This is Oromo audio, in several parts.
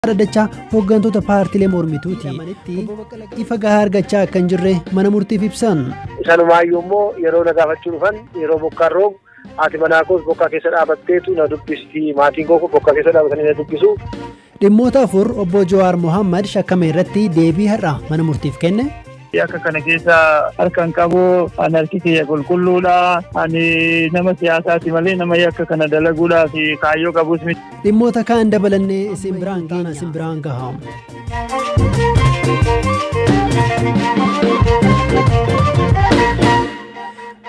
dhaddacha hooggantoota paartilee mormituuti ifa gahaa argachaa akka hin jirre mana murtiif ibsan. Sanumaayyuu immoo yeroo na gaafachuu dhufan yeroo bokkaan roobu haati manaa koos bokkaa keessa dhaabatteetu na dubbisti maatiin koo bokkaa keessa dhaabatanii na dubbisu. Dhimmoota afur obbo Jawaar Mohaammed shakkame irratti deebii har'a mana murtiif kenne. Yakka kana keessa harka hin qabu. Ani harki kiyya qulqulluudha. Ani nama siyaasaati malee nama yakka kana dalaguudhaa fi kaayyoo qabus miti. Dhimmoota kaan dabalannee isin biraan geena isin biraan gaha.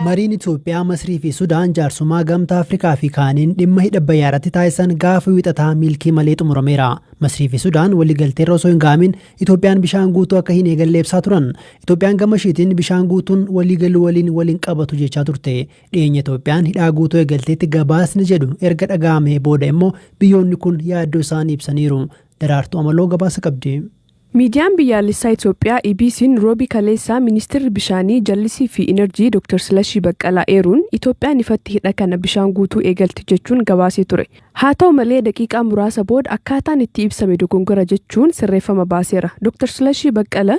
Mariin Itoophiyaa, Masrii fi Sudaan jaarsummaa gamtaa Afrikaa fi kaaniin dhimma hidha Abbayyaa irratti taasisan gaafa wiixataa milkii malee xumurameera. Masrii fi Sudaan waliigalteerra osoo hin gaamin Itoophiyaan bishaan guutuu akka hin eegalle ibsaa turan. Itoophiyaan gama ishiitiin bishaan guutuun waliigaluu waliin wal hin qabatu jechaa turte. Dhiyeenya Itoophiyaan hidhaa guutuu eegalteetti gabaasni jedhu erga dhaga'amee booda immoo biyyoonni kun yaaddoo isaanii ibsaniiru. Daraartuu Amaloo gabaasa qabdi. Miidiyaan biyyaalessaa Itoophiyaa EBC'n Roobii kaleessaa Ministirri Bishaanii, Jallisii fi Inarjii Dr. Silashii Baqqalaa eeruun Itoophiyaan ifatti hidha kana bishaan guutuu eegalti jechuun gabaasee ture. Haa ta'u malee daqiiqaa muraasa booda akkaataan itti ibsame dogongora jechuun sirreeffama baaseera. Doktar Silashii Baqqala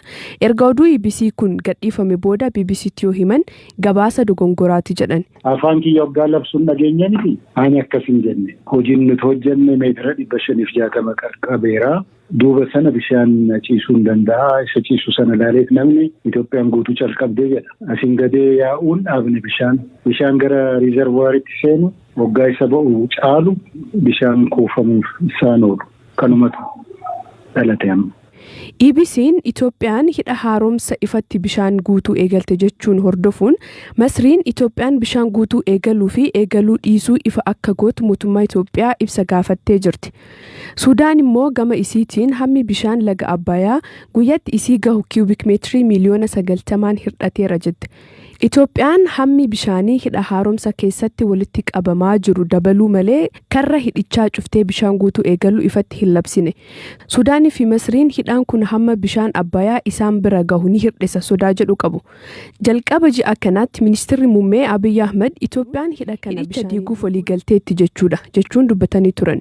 erga oduu EBC kun gadhiifame booda BBCtti yoo himan gabaasa dogongoraati jedhan. Afaan kiyya oggaa labsu hin dhageenye miti? Ani akkas hin jenne. Hojiin nuti hojjenne meetira 560 qaqqabeera. Duuba sana bishaan ciisuun danda'a. Isa ciisu sana ilaaleet namni Itoophiyaan guutuu calqabde jedha. Asiin gadee yaa'uun dhaabne bishaan bishaan gara riizarvuwaaritti seenu oggaa isa ba'u caalu bishaan kuufamuuf isaan oolu. Kanumatu dhalate amma. EBC'n Itoophiyaan hidha haaromsa ifatti bishaan guutuu eegalte jechuun hordofuun Masriin Itoophiyaan bishaan guutuu eegaluu fi eegaluu dhiisuu ifa akka gootu mootummaa Itoophiyaa ibsa gaafattee jirti. Sudaan immoo gama isiitiin hammi bishaan laga Abbayaa guyyatti isii gahu kiyuubik meetirii miiliyoona 90n hirdhateera jette. Itoophiyaan hammi bishaanii hidha haaromsa keessatti walitti qabamaa jiru dabaluu malee karra hidhichaa cuftee bishaan guutuu eegaluu ifatti hin labsine. Sudaaniifi Masriin hidhaan kun hamma bishaan Abbayaa isaan bira gahu ni hirdhisa sodaa jedhu qabu. Jalqaba ji'a kanaatti Ministirri Muummee Abiy Ahmad Itoophiyaan hidha kana hidhicha diiguuf waliigalteetti jechuudha jechuun dubbatanii turan.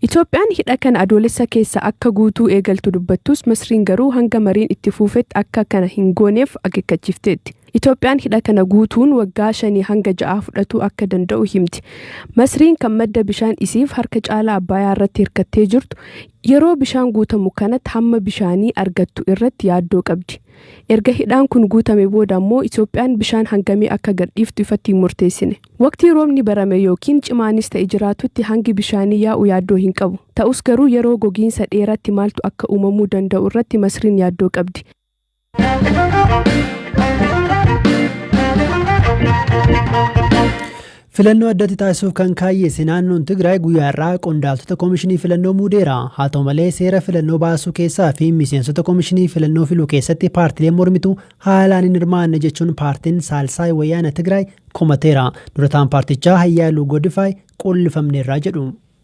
Itoophiyaan hidha kana Adoolessa keessa akka guutuu eegaltu dubbattus Masriin garuu hanga mariin itti fuufetti akka kana hin gooneef akeekkachiifteetti. Itoophiyaan hidha kana guutuun waggaa shanii hanga ja'aa fudhatuu akka danda'u himti. Masriin kan madda bishaan isiif harka caalaa Abbaayaa irratti hirkattee jirtu yeroo bishaan guutamu kanatti hamma bishaanii argattu irratti yaaddoo qabdi. Erga hidhaan kun guutame booda ammoo Itoophiyaan bishaan hangamii akka gadhiiftu ifatti hin murteessine. Waqtii roobni barame ykn cimaanis ta'e jiraatutti hangi bishaanii yaa'u yaaddoo hin qabu. Ta'us garuu yeroo gogiinsa dheeraatti maaltu akka uumamuu danda'u irratti Masriin yaaddoo qabdi. Filannoo addatti taasisuuf kan kaayyeesse naannoon Tigraay guyyaa irraa qondaaltota komishinii filannoo muudeera. Haa ta'u malee seera filannoo baasuu keessaa fi miseensota komishinii filannoo filuu keessatti paartileen mormituu haalaan hin hirmaanne jechuun paartiin Saalsaay Wayyaana Tigraay komateera. Durataan paartichaa Hayyaaluu Godifaay quullifamneerraa jedhu.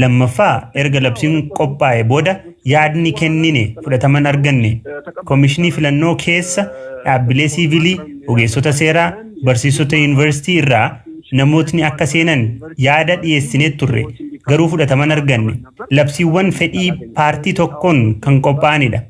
Lammaffaa erga labsiin qophaa'e booda yaadni kennine fudhataman arganne komishinii filannoo keessa dhaabbilee siivilii, ogeessota seeraa, barsiisota yuunivarsiitii irraa namootni akka seenan yaada dhiyeessinee turre garuu fudhataman arganne. Labsiiwwan fedhii paartii tokkoon kan qophaa'anidha.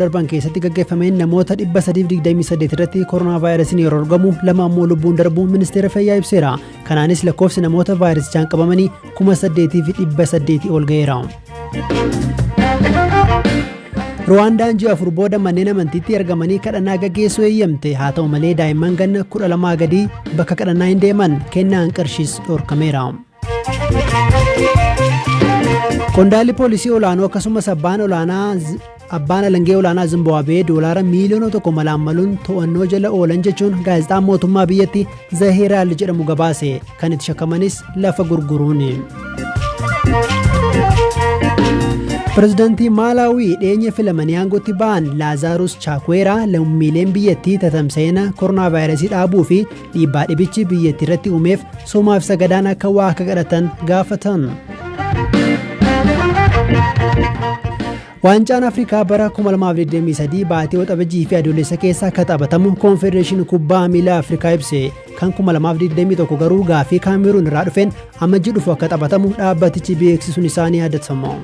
darban keessatti gaggeeffameen namoota 328 irratti koronaa vaayirasiin yeroo argamu lama ammoo lubbuun darbuu ministeera fayyaa ibseera kanaanis lakkoofsi namoota vaayirasichaan qabamanii 8800 ol ga'eera. Ruwaandaan ji'a afur booda manneen amantiitti argamanii kadhannaa gaggeessuu eeyyamte haa ta'u malee daa'imman ganna 12 gadii bakka kadhannaa hin deeman kennaan qarshiis dhorkameera. Qondaalli poolisii olaanoo akkasumas abbaan olaanaa Abbaan alangee olaanaa Zimbaabwee doolaara miiliyoona tokko malaammaluun to'annoo jala oolan jechuun gaazexaan mootummaa biyyatti Zahiraal jedhamu gabaase kan itti shakkamanis lafa gurguruuni. Pireezidaantii Maalaawii dhiyeenya filamanii aangootti ba'an Laazaarus Chaakweeraa lammiileen biyyattii tatamsa'ina koronaavaayirasii dhaabuu fi Dhiibbaa dhibichi biyyattii irratti uumeef soomaa fi sagadaan akka waa akka kadhatan gaafatan. Waancaan Afrikaa bara 2023 baatii waxabajjii fi adoolessa keessa akka taphatamu koonfedereeshinii kubbaa miilaa Afrikaa ibse kan 2021 garuu gaafii kaameruun irraa dhufeen amajji dhufu akka taphatamu dhaabbatichi beeksisuun isaa ni yaadatama.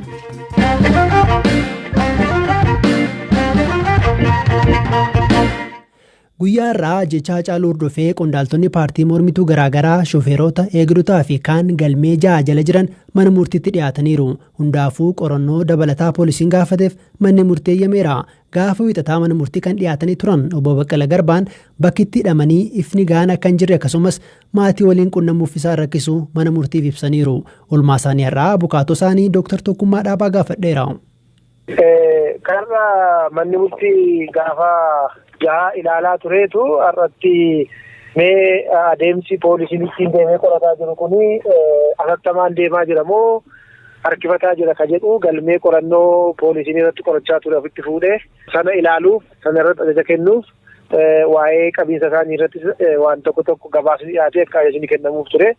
Guyyaa har'aa ajjeechaa Hacaaluu hordofee qondaaltonni paartii mormituu garaagaraa shofeerota, eegdotaa fi kaan galmee ja'a jala jiran mana murtiitti dhiyaataniiru. Hundaafuu qorannoo dabalataa poolisiin gaafateef manni murtii eeyyameera. Gaafa wiixataa mana murtii kan dhiyaatanii turan obbo Baqqala Garbaan bakki itti hidhamanii ifni gahaan akka hin jirre akkasumas maatii waliin qunnamuuf isaan rakkisu mana murtiif ibsaniiru. Olmaasaanii har'aa abukaatoo isaanii Dooktar Tokkummaa Dhaabaa gaafadheera. Karra manni murtii gaafa jaha ilaalaa tureetu har'atti mee adeemsi poolisiin ittiin deemee qorataa jiru kun atattamaan deemaa jira moo harkifataa jira ka jedhu galmee qorannoo poolisiin irratti qorachaa ture ofitti fuudhee sana ilaaluuf sana irratti ajaja kennuuf waa'ee qabiinsa isaanii irratti waan tokko tokko gabaasni dhiyaatee akka ajajni kennamuuf ture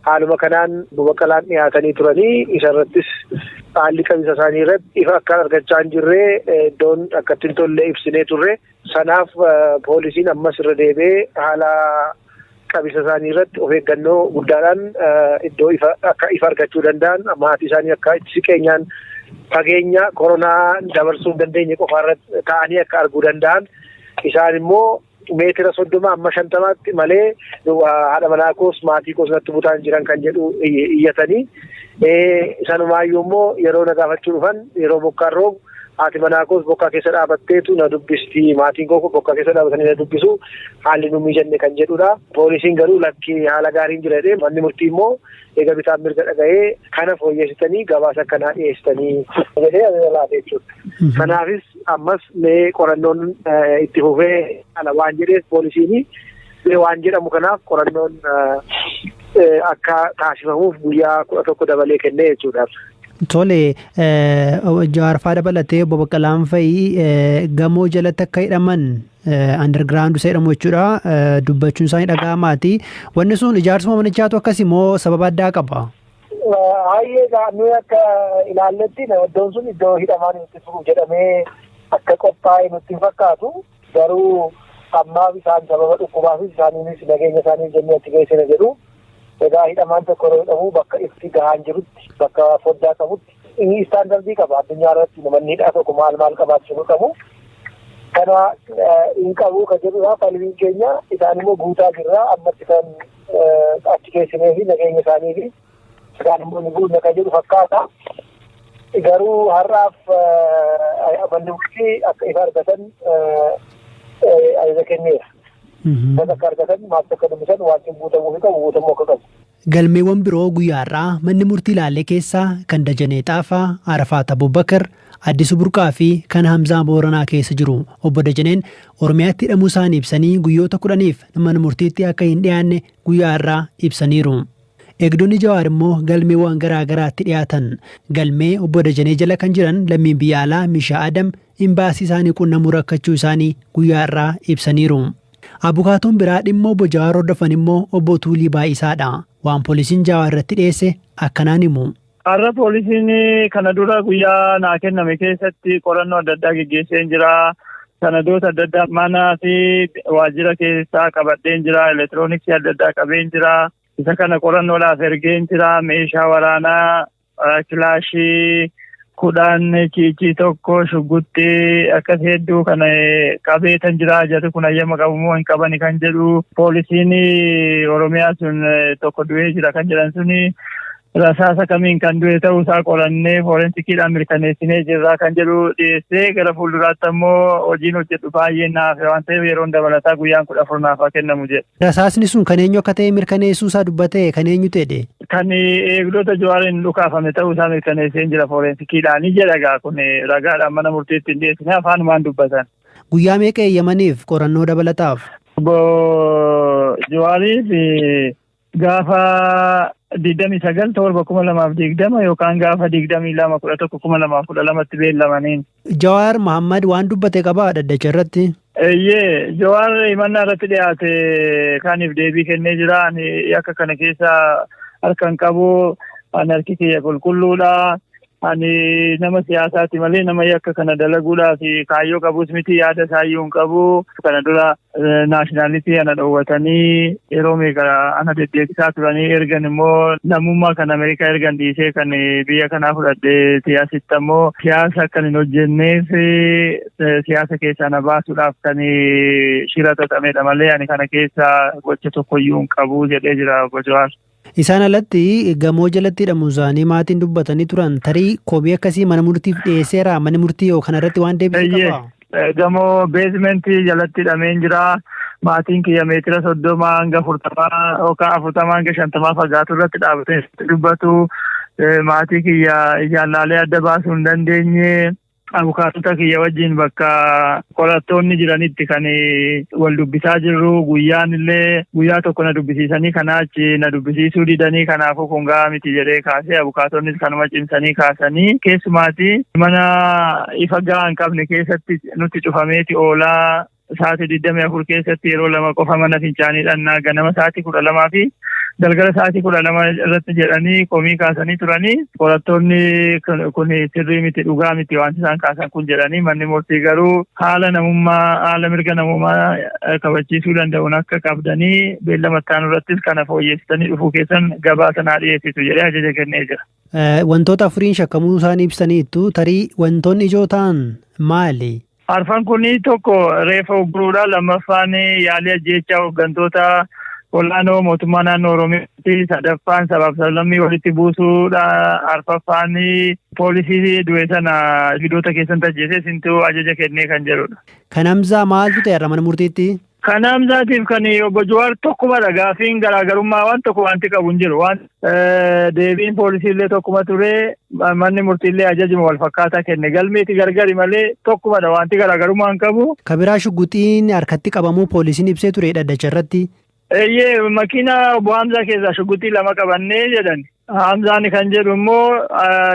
Haaluma kanaan Obbo Baqqalaan dhiyaatanii turanii isa irrattis haalli qabinsa isaanii irratti ifa akkaan argachaa hin jirre iddoon akkatti hin tolle ibsinee turre. Sanaaf poolisiin ammas irra deebi'ee haala qabinsa isaanii irratti of eeggannoo guddaadhaan iddoo ifa akka ifa argachuu danda'an maatii isaanii akka itti siqeenyaan fageenya koronaa dabarsuu hin dandeenye qofa irratti ta'anii akka arguu danda'an isaan immoo meetira soddoma amma shantamaatti malee haadha manaa koos maatii koos natti butaan jiran kan jedhu iyyatanii sanumaayyuu immoo yeroo na gaafachuu dhufan yeroo bokkaan roobu haati manaa koos bokkaa keessa dhaabatteetu na dubbisti maatiin koo bokkaa keessa dhaabatanii na dubbisu haalli nu mijanne kan jedhudha. Poolisiin garuu lakkii haala gaariin jira jedhee manni murtii immoo eega bitaan mirga dhaga'ee kana fooyyessitanii gabaasa akkanaa dhiyeessitanii jedhee ajaja laate jechuudha. Kanaafis ammas mee qorannoon itti fufee ala waan jedheef poolisiin mee waan jedhamu kanaaf qorannoon akka taasifamuuf guyyaa kudha tokko dabalee kennee jechuudha. Tole jaarfaa dabalatee obbo Baqqalaan fa'i gamoo jalatti akka hidhaman Underground seedhamu jechuudha. Dubbachuun isaanii dhaga'amaati. Wanni sun ijaarsuma manichaatu akkasi moo sababa addaa qaba? Hayyee nuyi akka ilaalletti iddoon sun iddoo hidhamaan itti turu jedhamee akka qophaa'e nutti hin fakkaatu. Garuu ammaaf isaan sababa dhukkubaafis isaaniinis nageenya isaanii jennee achi geessina jedhu. Egaa hidhamaan tokko yeroo hidhamu bakka itti gahaan jirutti bakka foddaa qabutti Inni istaandardii qaba addunyaa irratti manni hidhaa tokko maal maal qabaachuu qabu. Kana hin qabu kan jedhudha falmiin keenya isaan immoo guutaa jirra ammatti kan achi keessinee fi nageenya isaanii fi isaan immoo ni guunna kan jedhu fakkaata. Garuu har'aaf manni murtii akka ifa argatan ajaja kenneera. Bakka akka argatan maaf akka dubbisan wanti guutamuu fi qabu guutamuu akka qabu. Galmeewwan biroo guyyaa har'aa manni murtii ilaale keessaa kan Dajanee Xaafaa, Arafaat Abubakar, Addisu Burqaa fi kan Hamzaa Booranaa keessa jiru. Obbo Dajaneen Oromiyaatti hidhamuu isaanii ibsanii guyyoota 10f mana murtiitti akka hin dhiyaanne guyyaa har'aa ibsaniiru. Eegdonni Jawaar immoo galmeewwan garaa garaatti dhiyaatan. Galmee Obbo Dajanee jala kan jiran lammiin biyya alaa Mishaa Adam imbaasii isaanii qunnamuu rakkachuu isaanii guyyaa har'aa ibsaniiru. Abukaatoon biraa dhimma Obbo Jawaar hordofan immoo Obbo Tuulii Baay'isaa dha. Waan poolisiin Jaawaar irratti dhiyeesse akkanaan himu. Har'a poolisiin kana dura guyyaa naa kenname keessatti qorannoo adda addaa geggeesseen jira. Sanadoota adda addaa manaa fi waajjira keessaa qabadheen jira. Elektirooniksii adda addaa qabeen jira. Isa kana qorannoodhaaf ergeen jira. Meeshaa waraanaa Kilaashii kudhaan ciicii tokko shugguxxii akkas hedduu kan qabeetan jira jarri kun hayyama qabu moo hin qabani kan jedhu poolisiin oromiyaa sun tokko du'ee jira kan jedhan suni rasaasa kamiin kan du'e ta'uu isaa qorannee foorensikiidhaan mirkaneessinee jirra kan jedhu dhiyeessee gara fuulduraatti ammoo hojiin hojjedhu baay'ee naaf waan ta'eef yeroon dabalataa guyyaan kudha afur naaf haa kennamu jedhe. Rasaasni sun kan eenyu akka ta'e mirkaneessuu isaa dubbatee kan eenyutu jedhe? Kan eegdota Jawaariin dhukaafame ta'uu isaa mirkaneesseen jira foorensikiidhaani jedha egaa kun ragaadhaan mana murtiitti hin dhiyeessine afaanumaan dubbatan. Guyyaa meeqa eeyyamaniif qorannoo dabalataaf? Obbo Jawaariif gaafa 29 torba 2020 yookaan gaafa 22 11 2012tti beellamaniin. Jawaar Mahaammad waan dubbate qabaa dhaddacha irratti? Eeyyee, Jawaar himannaa irratti dhiyaate kaaniif deebii kennee jira. Ani yakka kana keessa harka hin qabu. Ani harki kiyya qulqulluudha. Ani nama siyaasaati malee nama yakka kana dalaguudhaaf kaayyoo qabus miti yaada isaayyuu hin qabu. Kana dura naashinaalitii ana dhoowwatanii yeroo meeqa ana deddeebisaa turanii ergan immoo lammummaa kan Ameerikaa ergan dhiisee kan biyya kanaa fudhadheeti asitti ammoo siyaasa akkan hin hojjenneef siyaasa keessaa na baasuudhaaf kan shira xaxamedha malee ani kana keessa gocha tokkoyyuu hin qabu jedhee jira obbo Jawaar. Isaan alatti gamoo jalatti hidhamuunsaanii maatiin dubbatanii turan tarii komii akkasii mana murtiif dhiyeesseera manni murtii yoo kanarratti waan deebisu Eeyyee. qabaa? Eh, Gamoo beesimentii jalatti hidhameen jira. Maatiin kiyya meetira soddoma hanga afurtamaa yookaan afurtamaa hanga shantamaa fagaatu irratti dhaabatee dubbatu. Eh, Maatii kiyya ijaan laalee adda baasuu hin dandeenye. Abukaatota kiyya wajjin bakka qorattoonni jiranitti kan wal dubbisaa jirru guyyaan illee guyyaa tokko na dubbisiisanii kanaa achi na dubbisiisuu didanii kanaafuu kun gahaa miti jedhee kaasee abukaatoonnis kanuma cimsanii kaasanii keessumaati mana ifa gahaa hin qabne keessatti nutti cufameeti oolaa Sa'aatii 24 keessatti yeroo lama qofa mana fincaanii dhannaa ganama sa'aatii 12 fi galgala sa'aatii 12 irratti jedhanii komii kaasanii turanii qorattoonni kun sirrii miti dhugaa miti waan isaan kaasan kun jedhanii manni murtii garuu haala namummaa haala mirga namummaa kabachiisuu danda'uun akka qabdanii beellama ittaanu irrattis kana fooyyessitanii dhufuu keessan gabaasa naa dhiyeessitu jedhee ajaja kennee jira. Wantoota afuriin shakkamuu isaanii ibsaniittu tarii wantoonni ijoo ta'an maali? Arfan kun tokko reeffa ugguruudha. Lammaffaan yaalii ajjeechaa hooggantoota olaanoo mootummaa naannoo Oromiyaatti. Sadaffaan sabaaf sablammii walitti buusuudha. Arfaffaan poolisii du'e sana gidoota keessatti ajjeesee isintu ajaja kennee kan jedhudha. Kan Hamzaa maaltu ta'e har'a mana murtiitti? Kan Hamzaatiif kan obbo Jawaar tokkumadha gaafiin garaagarummaa waan tokko wanti qabu hin jiru. Waan deebiin poolisiillee tokkuma ture manni murtiillee ajajuma wal fakkaataa kenne galmeeti gargari malee tokkumadha wanti garaagarummaa hin qabu. Kabiraa shugguxiin harkatti qabamuu poolisiin ibsee ture dhaddacha irratti. Eeyyee makiina obbo Hamzaa keessaa shugguxii lama qabannee jedhan. Hamzaan kan jedhu immoo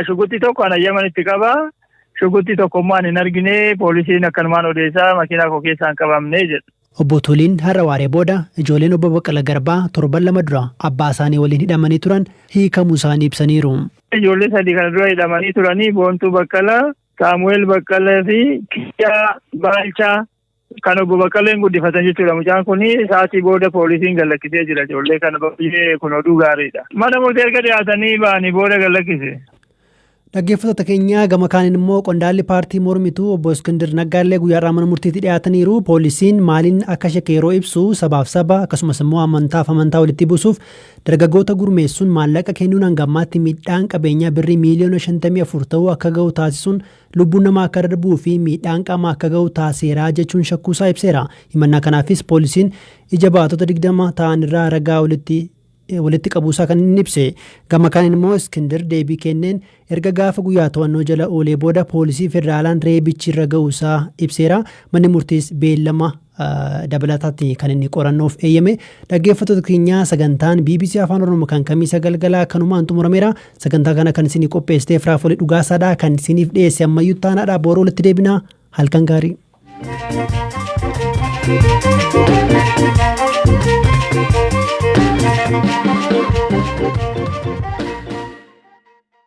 shugguxii tokko an ayyamanitti qaba. Shugguxxii tokko immoo ani hin argine poolisiin akkanumaan odeessaa makiinaa koo keessaa hin qabamne jedhu. Obbo Tuuliin har'a waaree booda ijoolleen Obbo Baqqala Garbaa torban lama dura abbaa isaanii waliin hidhamanii turan hiikamuu isaanii ibsaniiru. Ijoollee sadii kana dura hidhamanii turanii Boontuu Baqqala, Saamu'eel Baqqala fi Kiyyaa Baalchaa Kan obbo Baqqaleen guddifatan jechuudha. Mucaan kun sa'aatii booda poolisiin gallakkisee jira ijoollee kana baay'ee kun oduu gaariidha. Mana murtii erga dhiyaatanii ba'anii booda gallakkise. Dhaggeeffattoota keenyaa gama kaaniin immoo qondaalli paartii mormituu obbo Iskindir Naggaallee guyyaarraa mana murtiitti dhiyaataniiru. Poolisiin maaliin akka shakke yeroo ibsu sabaaf saba akkasumas immoo amantaaf amantaa walitti buusuuf dargaggoota gurmeessuun maallaqa kennuun hanga ammaatti miidhaan qabeenyaa birrii miiliyoona 54 ta'uu akka ga'u taasisuun lubbuun namaa akka darbuu fi miidhaan qaamaa akka ga'u taasiseera jechuun shakkuusaa ibseera. Himannaa kanaafis poolisiin ija baatota 20 ta'anirraa ragaa walitti walitti qabuusaa kan inni ibse. Gama kaaniin immoo Iskindir deebii kenneen erga gaafa guyyaa to'annoo jala oolee booda poolisii federaalaan reebichi irra ga'uusaa ibseera. Manni murtiis beellama dabalataatti kan inni qorannoof eeyyame dhaggeeffattoota keenyaa sagantaan bbc afaan oromoo kan kamiisa galgalaa kanumaan xumurameera sagantaa kana kan isinii qopheessiteef raafolee dhugaasaadha kan isiniif dhiyeesse ammayyuu taanaadha booroo walitti deebinaa halkan gaarii. Thank you.